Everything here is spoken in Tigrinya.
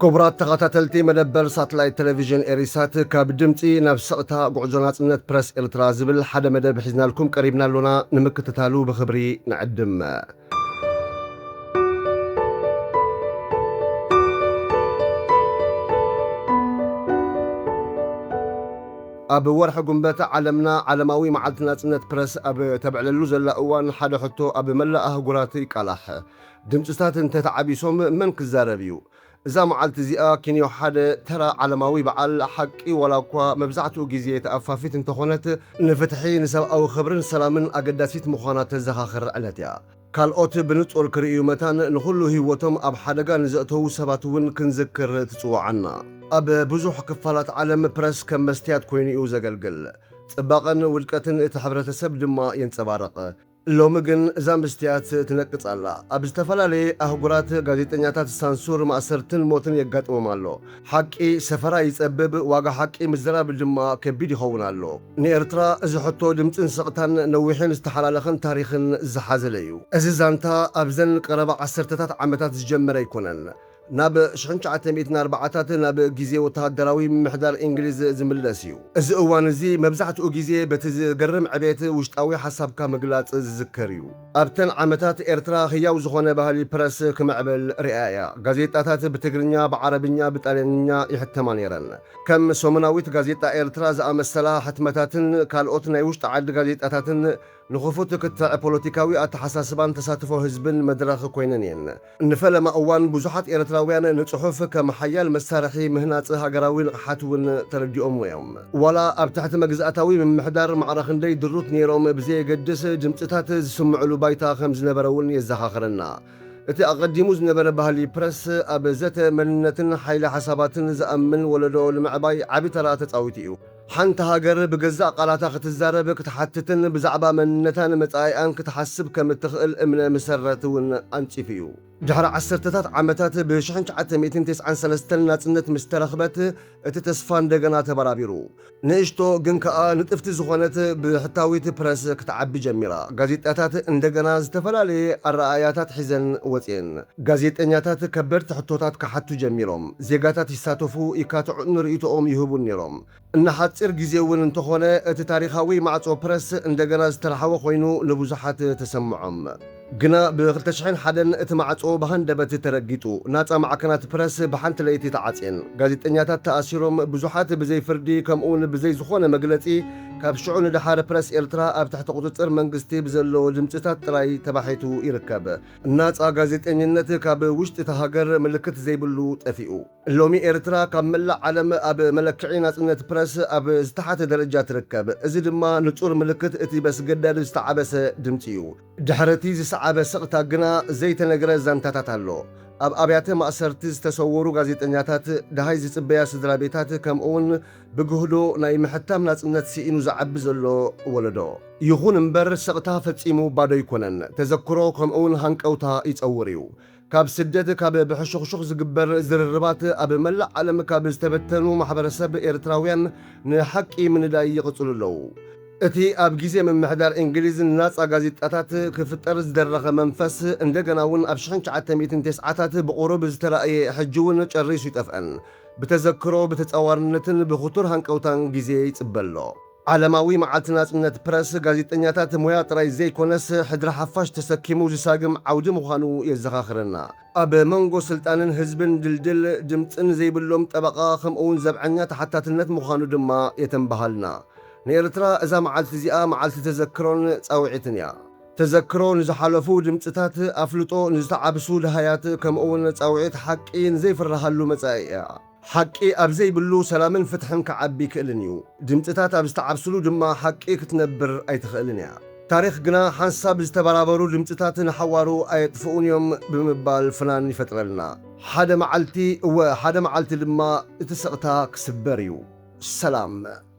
ክቡራት ተኸታተልቲ መደበር ሳትላይት ቴሌቪዥን ኤሪሳት ካብ ድምፂ ናብ ስቕታ ጉዕዞ ናፅነት ፕረስ ኤርትራ ዝብል ሓደ መደብ ሒዝናልኩም ቀሪብና ኣሎና ንምክትታሉ ብኽብሪ ንዕድም ኣብ ወርሒ ጉንበት ዓለምና ዓለማዊ መዓልቲ ናጽነት ፕረስ ኣብ ተብዕለሉ ዘላ እዋን ሓደ ሕቶ ኣብ መላእ ኣህጉራት ይቃላሕ። ድምጽታት እንተተዓቢሶም መን ክዛረብ እዩ? እዛ መዓልቲ እዚኣ ኪንዮ ሓደ ተራ ዓለማዊ በዓል ሓቂ ዋላኳ መብዛሕትኡ ግዜ ተኣፋፊት እንተኾነት ንፍትሒ ንሰብኣዊ ክብርን ሰላምን ኣገዳሲት ምዃና ተዘኻኽር ዕለት እያ። ካልኦት ብንጹር ክርእዩ መታን ንኹሉ ህይወቶም ኣብ ሓደጋ ንዘእተዉ ሰባት እውን ክንዝክር ትጽውዓና። ኣብ ብዙሕ ክፋላት ዓለም ፕረስ ከም መስትያት ኮይኑ'ዩ ዘገልግል። ጽባቐን ውድቀትን እቲ ሕብረተሰብ ድማ የንጸባርቕ። ሎሚ ግን እዛ ምስትያት ትነቅጽ ኣላ። ኣብ ዝተፈላለየ ኣህጉራት ጋዜጠኛታት ሳንሱር፣ ማእሰርትን ሞትን የጋጥሞም ኣሎ። ሓቂ ሰፈራ ይጸብብ፣ ዋጋ ሓቂ ምዝራብ ድማ ከቢድ ይኸውን ኣሎ። ንኤርትራ እዚ ሕቶ ድምጽን ስቕታን ነዊሕን ዝተሓላለኸን ታሪኽን ዝሓዘለ'ዩ። እዚ ዛንታ ኣብዘን ቀረባ ዓሰርተታት ዓመታት ዝጀመረ ኣይኮነን። ናብ ሽሕን ትሽዓተ ሚእትን ኣርባዓታትን ኣብ ግዜ ወተሃደራዊ ምምሕዳር እንግሊዝ ዝምለስ እዩ። እዚ እዋን እዚ መብዛሕትኡ ግዜ በቲ ዝገርም ዕቤት ውሽጣዊ ሓሳብካ ምግላጽ ዝዝከር እዩ። ኣብተን ዓመታት ኤርትራ ህያው ዝኾነ ባህሊ ፕረስ ክምዕብል ርእያ እያ። ጋዜጣታት ብትግርኛ፣ ብዓረብኛ፣ ብጣልያንኛ ይሕተማ ነይረን። ከም ሰሙናዊት ጋዜጣ ኤርትራ ዝኣመሰላ ሕትመታትን ካልኦት ናይ ውሽጢ ዓዲ ጋዜጣታትን ንኽፉት ክትዕ ፖለቲካዊ ኣተሓሳስባን ተሳትፎ ህዝብን መድረኽ ኮይነን እየን። ንፈለማ እዋን ብዙሓት ኤርትራውያን ንጽሑፍ ከም ሓያል መሳርሒ ምህናጽ ሃገራዊ ንቕሓት እውን ተረዲኦምዎ እዮም። ዋላ ኣብ ትሕቲ መግዛእታዊ ምምሕዳር ማዕረ ክንደይ ድሩት ነይሮም ብዘየገድስ ድምጽታት ዝስምዑሉ ባይታ ከም ዝነበረ እውን የዘኻኽረና። እቲ ኣቐዲሙ ዝነበረ ባህሊ ፕረስ ኣብ ዘተ መንነትን ሓይሊ ሓሳባትን ዝኣምን ወለዶ ንምዕባይ ዓቢ ተራ ተጻዊቱ እዩ። ሓንቲ ሃገር ብገዛእ ቃላታ ክትዛረብ፣ ክትሓትትን ብዛዕባ መንነታን መጻኢኣን ክትሓስብ ከም እትኽእል እምነ ምሰረት እውን ኣንጺፉ እዩ። ድሕሪ ዓሰርተታት ዓመታት ብ ሽሕን ትሽዓተ ሚእትን ተስዓን ሰለስተን ናጽነት ምስ ተረኽበት እቲ ተስፋ እንደገና ተበራቢሩ። ንእሽቶ ግን ከኣ ንጥፍቲ ዝኾነት ብሕታዊት ፕረስ ክትዓቢ ጀሚራ። ጋዜጣታት እንደገና ዝተፈላለየ ኣረኣእያታት ሒዘን ወጺኤን። ጋዜጠኛታት ከበድቲ ሕቶታት ክሓቱ ጀሚሮም። ዜጋታት ይሳተፉ፣ ይካትዑን ንርእይቶኦም ይህቡን ነይሮም። ንሓጺር ግዜ እውን እንተኾነ እቲ ታሪኻዊ ማዕጾ ፕረስ እንደገና ዝተረሓወ ኮይኑ ንብዙሓት ተሰምዖም። ግና ብ ክልተ ሽሕን ሓደን እቲ ማዕጾ ብሃንደበት ተረጊጡ። ናጻ ማዕከናት ፕረስ ብሓንቲ ለይቲ ተዓጽየን። ጋዜጠኛታት ተኣሲሮም፣ ብዙሓት ብዘይ ፍርዲ ከምኡውን ብዘይ ዝኾነ መግለጺ ካብ ሽዑ ንደሓር ፕረስ ኤርትራ ኣብ ትሕቲ ቁጽጽር መንግስቲ ብዘለዎ ድምጽታት ጥራይ ተባሒቱ ይርከብ። ናጻ ጋዜጠኝነት ካብ ውሽጢ እታ ሃገር ምልክት ዘይብሉ ጠፊኡ። ሎሚ ኤርትራ ካብ መላእ ዓለም ኣብ መለክዒ ናጽነት ፕረስ ኣብ ዝተሓተ ደረጃ ትርከብ። እዚ ድማ ንጹር ምልክት እቲ በስገዳድ ዝተዓበሰ ድምጺ እዩ። ድሕሪ'ቲ ዝሰዓበ ስቕታ ግና ዘይተነግረ ዛንታታት ኣሎ። ኣብ ኣብያተ ማእሰርቲ ዝተሰወሩ ጋዜጠኛታት፣ ደሃይ ዝጽበያ ስድራቤታት ከምኡ'ውን፣ ብግህዶ ናይ ምሕታም ናጽነት ስኢኑ ዝዓቢ ዘሎ ወለዶ። ይኹን እምበር ስቕታ ፈጺሙ ባዶ ኣይኮነን። ተዘክሮ ከምኡ'ውን ሃንቀውታ ይጸውር እዩ። ካብ ስደት፣ ካብ ብሕሹኽሹኽ ዝግበር ዝርርባት ኣብ መላእ ዓለም ካብ ዝተበተኑ ማሕበረሰብ ኤርትራውያን ንሓቂ ምንዳይ ይቕጽሉ ኣለዉ። እቲ ኣብ ግዜ ምምሕዳር እንግሊዝ ንናጻ ጋዜጣታት ክፍጠር ዝደረኸ መንፈስ እንደገና'ውን ኣብ ሽሕን ትሽዓተ ሚእትን ቴስዓታት ብቑሩብ ዝተራእየ ሕጂ'ውን ጨሪሱ ኣይጠፍአን። ብተዘክሮ፣ ብተጻዋርነትን ብኽቱር ሃንቀውታን ግዜ ይጽበ ኣሎ። ዓለማዊ መዓልቲ ናጽነት ፕረስ፣ ጋዜጠኛታት ሞያ ጥራይ ዘይኮነስ፣ ሕድሪ ሓፋሽ ተሰኪሙ ዝሳግም ዓውዲ ምዃኑ የዘኻኽረና። ኣብ መንጎ ስልጣንን ህዝብን ድልድል ድምጽን ዘይብሎም ጠበቓ ከምኡ'ውን ዘብዐኛ ተሓታትነት ምዃኑ ድማ የተንብሃልና። ንኤርትራ እዛ መዓልቲ እዚኣ መዓልቲ ተዘክሮን ጻውዒትን እያ። ተዘክሮ ንዝሓለፉ ድምጽታት፣ ኣፍልጦ ንዝተዓብሱ ደሃያት፣ ከምኡ'ውን ጻውዒት ሓቂ ንዘይፍረሃሉ መጻኢ እያ። ሓቂ ኣብ ዘይብሉ ሰላምን ፍትሕን ክዓቢ ኣይክእልን እዩ። ድምጽታት ኣብ ዝተዓብስሉ ድማ ሓቂ ክትነብር ኣይትኽእልን እያ። ታሪኽ ግና ሓንሳብ ዝተበራበሩ ድምጽታት ንሓዋሩ ኣየጥፍኡን እዮም ብምባል ፍናን ይፈጥረልና። ሓደ መዓልቲ፣ እወ ሓደ መዓልቲ ድማ እቲ ስቕታ ክስበር እዩ። ሰላም!